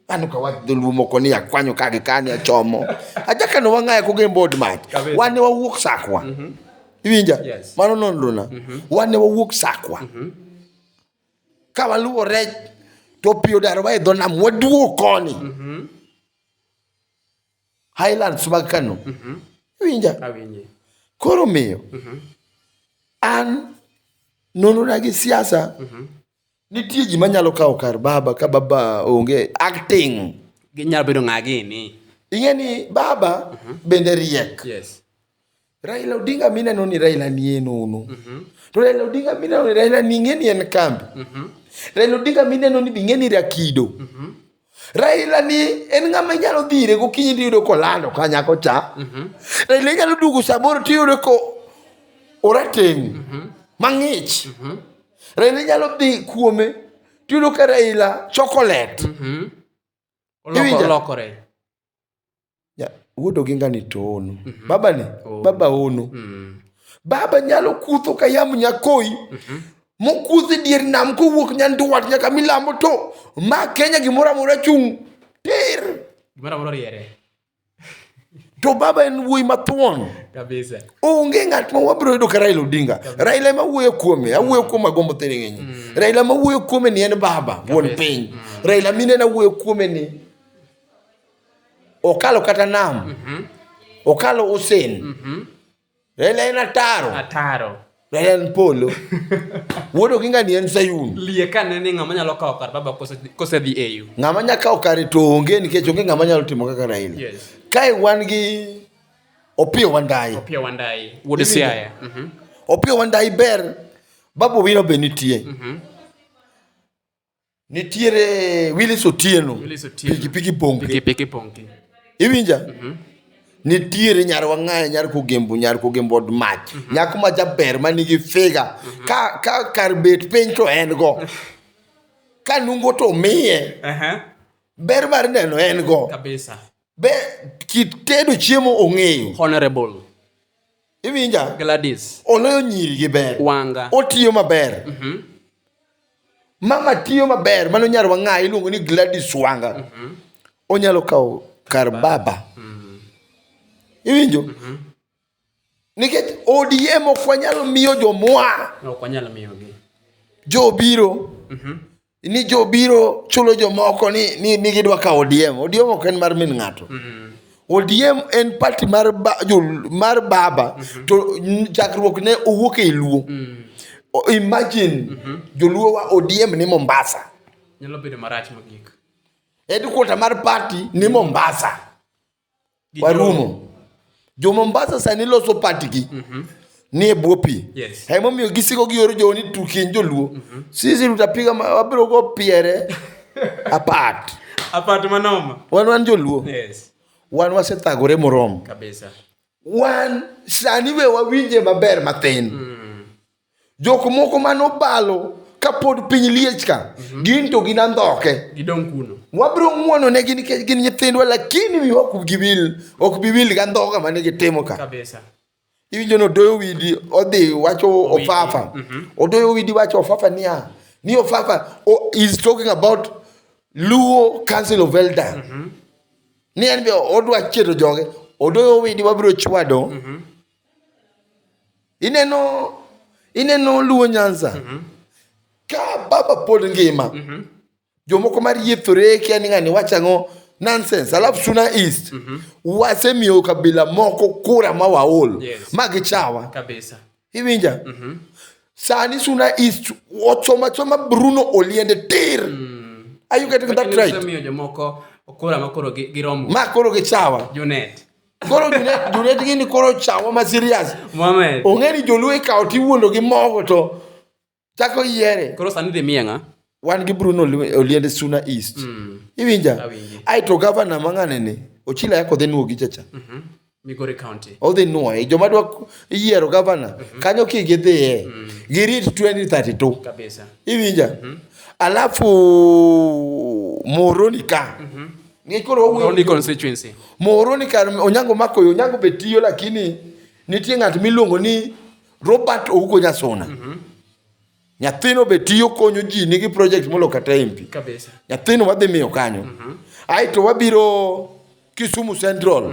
An ka wach dholuo moko ni akwanyo ka gi kani achomo. Aja ka no wang'aya ko gin bod mach. Kabisa. Wan ne wawuok sakwa. Iwinja? Yes. Mano nonro na. Wan ne wawuok sakwa. Ka waluwo rech to pi odaro wa e dho nam waduo koni. Highlands mag Kano. Iwinja? Awinji. Koro miyo an nonro na gi siasa Nitie ji manyalo kawo kar baba ka baba onge acting. Ginyalo bedo ng'a gini. Ing'e ni baba uh mhm. -huh. bende riek. Yes. Raila Odinga mineno ni Raila ni en ono. Uh mhm. -huh. To Raila Odinga mineno ni Raila ni ing'e ni en kambi. Uh mhm. -huh. Raila Odinga mineno ni bing'e ni Rakido. Uh -huh. Raila ni en ng'ama inyalo dhire gokinyi tiyudo kolando ka nyako cha. Mhm. Raila inyalo duogo samoro tiyudo ko orateng' mhm. mang'ich. Mhm. Raila inyalo dhi kuome tiyudo ka Raila chocolate. Iwinjo? nya- wuod oginga ni to ono baba ni baba ono baba nyalo kutho ka yamb nyakoyi mokudhi dier nam kowuok nyanduat nyaka milambo to ma kenya gimoro amora chung' tir Gimoro amoro riere. to baba en wuoyi mathuon Kabisa. onge ng'at ma wabiro yudo ka raila odinga raila ema wuoyo kuome awuoyo kuom agombo thiring'enye raila ema wuoyo kuome ni en baba wuon piny raila minena wuoyo kuome ni Okalo kata nam. Mm -hmm. Okalo Hussein. Mm -hmm. Raila en ataro. Ataro. Raila en polo. Wuodo gi ngani en Sayun. Lie ka ne ni ng'ama nyalo kawo kar baba kose dhi eyu. Ng'ama nyalo kawo kare to onge nikech onge ng'ama nyalo timo kaka Raila. Yes. Kae wan gi Opio Wandayi. Opio Wandayi. Wuod Siaya. Mm -hmm. Opio Wandayi ber. Babu Owino be nitie. Mm -hmm. Nitiere Willis Otieno. Willis Otieno. Piki piki ponke. Piki piki ponke. Iwinja? Mm -hmm. Nitiere nyar wang'ayo nyar kogembo nyar kogembo od mach. Mm -hmm. Nyako ma jaber ma nigi figa. Mm -hmm. Ka ka kar bet piny to en go. ka nungo to miye. Uh -huh. Ber mar neno en go. Kabisa. be kit tedo chiemo ong'eyo honorable iwinja gladys oloyo nyiri gi ber wanga otiyo maber mama tiyo maber mano nyar wang'ayi iluongo ni gladys wanga onyalo kawo kar baba iwinjo Nikech ODM ok wanyal miyo jomwa. Ok wanyal miyogi. Jo biro. Mm -hmm. Ni jo biro chulo jomoko ni, ni, ni gidwa ka ODM. ODM ok en mar min ng'ato. Mm -hmm. ODM en party mar, ba, jo, mar baba mm -hmm. to chakruok ne owuok e Luo. Mm -hmm. Imagine mm -hmm. joluo wa ODM ni Mombasa. Nyalo bedo marach mogik. Headquarter mar party ni Mombasa. Gi warumo jo mombasa sani loso patgi ni e bwo pi Yes. emomiyo gisiko gioro jowo ni tukieny joluo sisi tutapiga ma- wabiro go piere apart Apart manoma. wan wan joluo Yes. wan wasethagore moromo Kabisa. wan sani we wawinje maber mathin jok moko mane obalo kapod piny liech ka mhm. gin to gin andhoke gidong kuno wabiro ng'wono ne gin nikech gin nyithindwa lakini mi ok giwil ok biwil ga ndhoga mane gitimo ka kabisa iwinjo ni odoyo widi odhi wacho ofafa mhm. odoyo widi wacho ofafa niya ni ofafa oh, is talking about luo council of elder mhm. ni en be odwa chieto joge odoyo widi wabiro chwado ineno ineno luo nyanza mm -hmm. ka baba pod ngima mm -hmm. jomoko mariethore kia ni ng'ani wacho ang'o nonsense alafu suna east mm -hmm. wasemiyo kabila moko kura ma waol yes. ma gichawa kabisa iwinja mm -hmm. sani suna east ochomachoma bruno oliende tir mm. are you getting that right ma koro gichawa junet Koro Junet gini koro chawo ma serious. Mohamed. Ong'e ni joluo ikawo tiwuondo gi mogo to chako yiere. Koro sani dhi mienga. Wan gi Bruno Oliende Suna East. Mm. Iwinja? Ai to governor mang'ane ni ochila yako dhi nuogi chacha. Mm -hmm. Migori County. Odhi nuoye. Joma dwa yiero governor mm -hmm. kanyo ki gidhiye. Mm. Girit 2032. Kabisa. Iwinja? Mm -hmm. Alafu Moroni ka. Mm -hmm. Ng'e koro wawuoyo Moroni Onyango. constituency. Moroni kar Onyango mako yo, Onyango be tiyo lakini nitie ng'at miluongo ni Robert Ouko Nyasuna. Nyathino be tiyo konyo ji nigi project molo kata MP. Kabisa. Nyathino wadhi miyo kanyo. Aeto wabiro Kisumu Central.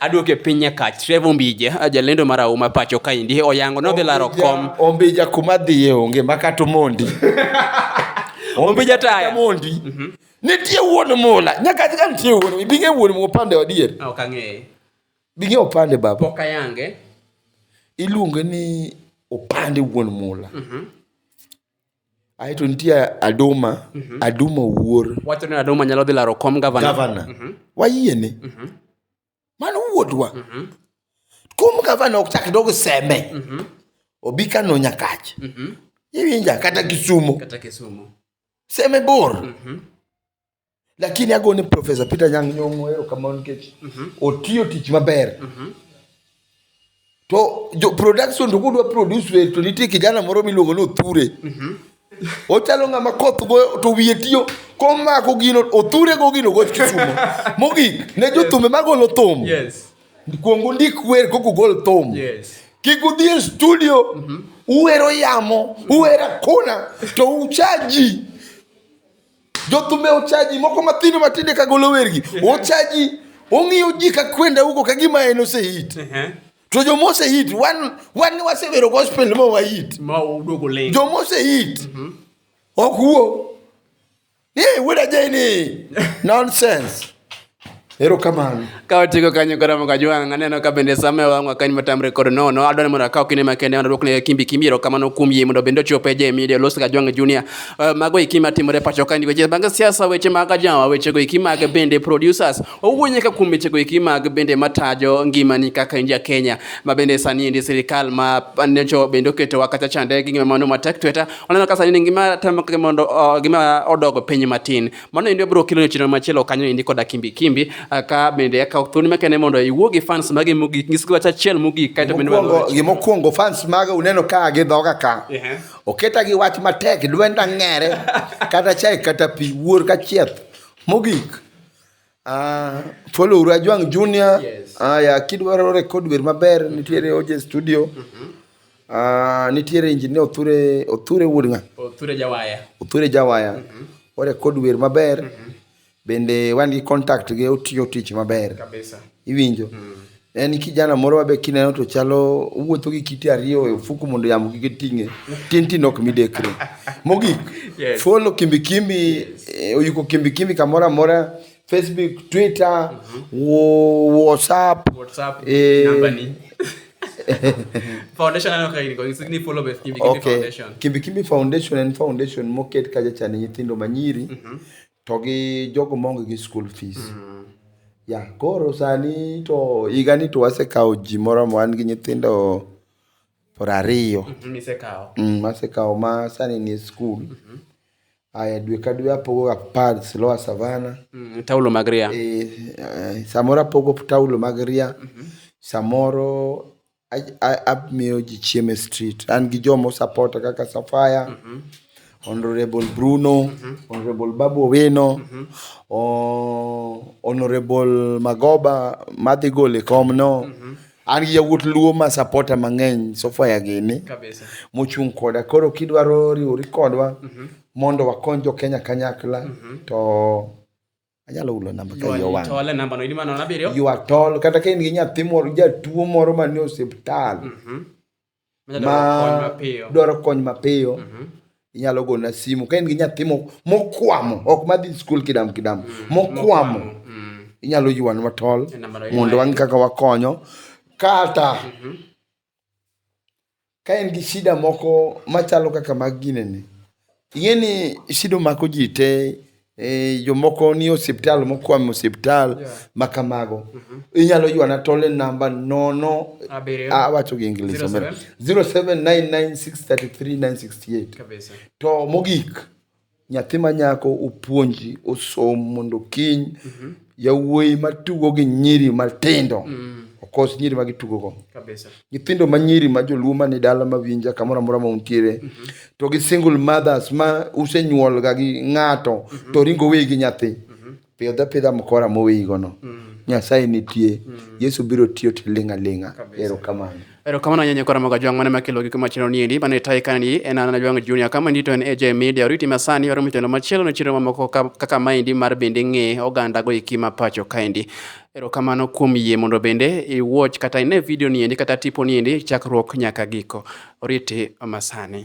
Aduoke e piny nyakach Trevor Ombija jalendo mar auma pacho kaendi oyango nodhi laro kom Ombija kuma dhiye onge makata omondi Ombija taya mondi mhm. nitie wuon mula nyaka ka nitie wuon ibinge wuon mu opande odier ok ang'eye binge opande baba ok ayange iluonge ni opande wuon mula mhm. Ae to nitie Aduma, Aduma Owuor, Wacho ni Aduma nyalo dhi laro kom gavana. gavana. Wayiene. Mano wuodwa. Kum gavana ok chak dog sembe. Obi Kano Nyakach. Iwinja kata Kisumo. Kata Kisumu. Sembe bor. lakini ago ni profesa peter nyang nyong'o erokamano nikech otiyo tich maber to jo production to kudwa produce wer to nitie kijana moro miluongo ni othure ochalo ng'ama koth goyo to wiye tiyo komako gino othure go gino goch kisumo mogik ne jothumbe magolo thum Yes. kuong undik wer kok ugol thum Yes. kik udhi e studio uwero yamo uwero akona to ucha ji Jothumbe ochaji moko mathindo matinde ka golo wergi. Ochaji ong'iyo ji ka kwenda huko ka gima en osehit. Ehe. To joma osehit wan wan ni wasewero gospel ma wahit. Ma uduogo leng. Joma osehit ok wuo. Ni wuod ajeni nonsense. Erokamano. Ka watieko kanyo koro moka jwang' aneno ka bende sama wang' wakany matamre kod nono adwani mondo akaw kinde makende mondo adwokne kimbi kimbi erokamano kuom yie mondo bende ochope je media los ka jwang' junior uh, mago eki matimore pacho ka weche mag siasa weche mag ajawa weche go eki mag bende producers owuo nyaka kuom weche go eki mag bende matajo ngimani kaka in ja Kenya ma bende sani endi sirikal ma nyocho bende oketo wakacha chande gi ngima mano matek tweta oneno ka sani ngima temo mondo uh, gima odogo piny matin mano endi bro kilo chenro machielo kanyo endi koda kimbi kimbi ah, ka bende akawo thuolo makende mondo iwuo gi fans mage mogik nyisgi wach achiel mogik kae to bende gimokwongo fans mage uneno ka gi dhoga ka oketa gi wach matek dwenda ng'ere kata chai kata pi wuor ka chieth mogik Uh, follow uru Ajwang Junior. Yes. Uh, ya kidwaro record wer maber mm -hmm. nitiere oje studio. Mm -hmm. Uh, nitiere engineer Othure Othure Wudnga. Othure Jawaya. Othure Jawaya. Mm -hmm. Ore kod wer maber. Mm -hmm. Bende wan gi contact gi otiyo tich maber. Kabisa. Iwinjo. Mm -hmm. En kijana moro mabe kineno to chalo wuotho gi kite ariyo e ofuku mondo yamo kik ting'e. Tin tin ok midekre. Mogik, yes. follow Kimbi Kimbi, yes. Eh, oyuko Kimbi Kimbi kamoro amora. Facebook, Twitter, mm -hmm. WhatsApp. WhatsApp, eh, namba ni. foundation ano kaini kwa ni follow beth kimbi kimbi okay. foundation kimbi kimbi foundation and foundation moket kaja cha nyithindo manyiri mm -hmm. To gi jogo maonge gi school fees. Mm. Ya, koro sani to higa ni to wasekawo ji moro ma wan gi nyithindo por ariyo. Mhm, Misekawo. Mm, masekawo ma sani ni e skul. Mhm. Aya, dwe ka dwe apogo ga pads lower savana. Mm, Taulo mag ria. E, eh, samoro apogo taulo mag ria. Mhm. Samoro Amiyo ji chiemo e street. An gi joma o support a kaka Safaya, Honourable Bruno, Honourable Babu Owino, Honourable Magoba madhi golo e kom no. An gi yawuot Luo ma support a mang'eny, Safaya gini, mochung' koda. Koro kidwaro riwori kodwa mondo wakony jo Kenya kanyakla to. anyalo hulo namba ka iye owang'. Tole namba no ilima nono abiriyo. You are tall kata ka in gi nyathi moro jatuo moro man e osiptal Mhm. Manyalo ma dwaro kony mapiyo. dwaro kony mapiyo Mhm. inyalo gona simu ka in gi nyathi mo- mokwamo ok madhi skul kidam kidam mokwamo Mm. inyalo ywanwa tol E namba no mondo iwaye. wang' kaka wakonyo kata Ka in gi shida moko machalo kaka mag ginene, ing'e ni shida omako ji te, jomoko ni e osiptal mokwamo osiptal ma kamago. Inyalo ywana tol e namba nono, awacho gi English omera, 0799633968. To mogik, nyathi manyako opuonji osom mondo kiny yawuoyi matugo gi nyiri matindo okos nyiri ma gitugogo. Kabisa. Nyithindo ma nyiri ma joluo man e dala ma winja kamoro amora ma untiere to gi single mothers ma usenyuolga gi ng'ato to oringo oweyi gi nyathi. Pidh apidha mkora moweygo no. Nyasaye nitie. Yesu biro tiyo tiling' aling'a. Erokamano. Erokamano ahinya nyakora moga jwang' mane makelo gik machielo ni endi mane tayi ka ni en an jwang' junior kama ni to en AJ Media oriti ma sani waro mchelo machielo ne chiro mamoko kaka ma endi mar bende ng'e oganda go iki ma pacho ka endi erokamano kuom yie mondo bende i watch kata ine video ni endi kata tipo ni endi chakruok nyaka giko oriti masani